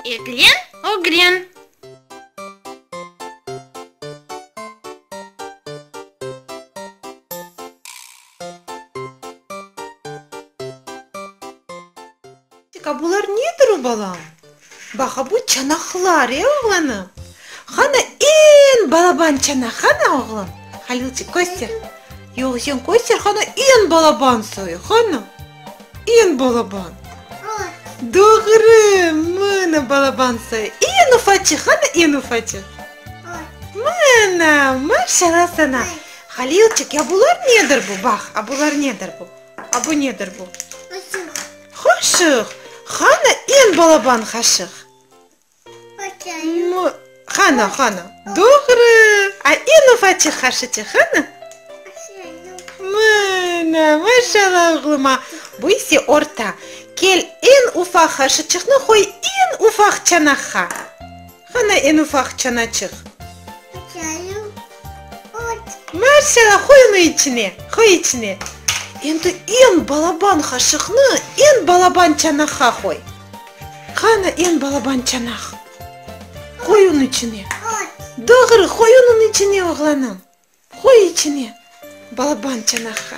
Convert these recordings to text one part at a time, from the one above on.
Eglen, ögren. A bular nedir, o balam? Baqa, bu çanaqlar, e, oğlanım? Qana, eñ balaban çanaq, qana, oğlum? Halilçik, köster. Yoq, sen köster, qana, eñ balaban soy, qana. İn balaban. Doğru, mına balabansa, iñ ufaçıq, qana iñ ufaçıq. Mına, maşalla sana. Halilçik, ya bular nedir bu? Baq, a bular nedir bu? A bu nedir bu? Qaşıq. Qaşıq, qana iñ balaban qaşıq. Mı, Hana, Hana. Doğru! A inu Fatih Haşiti, Hana? Mına, maşalla oğluma. Bu ise orta. Kel, eñ ufaq Haşıçıqnı qoy eñ ufaq çanaqqa. Hana eñ ufaq çanaçıq? Maşalla, qoy unı içine, qoy içine. Endi eñ balaban Haşıqnı eñ balaban çanaqqa qoy. Qanı eñ balaban çanaq. Qoy unı içine. Doğru, qoy unını içine, oğlanım. Qoy içine balaban çanaqqa.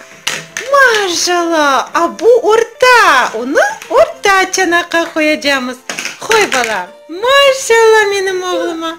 Maşala! A bu orta, unı orta çanaqqa qoyacamız. Qoy, balam. Maşala menim oğluma!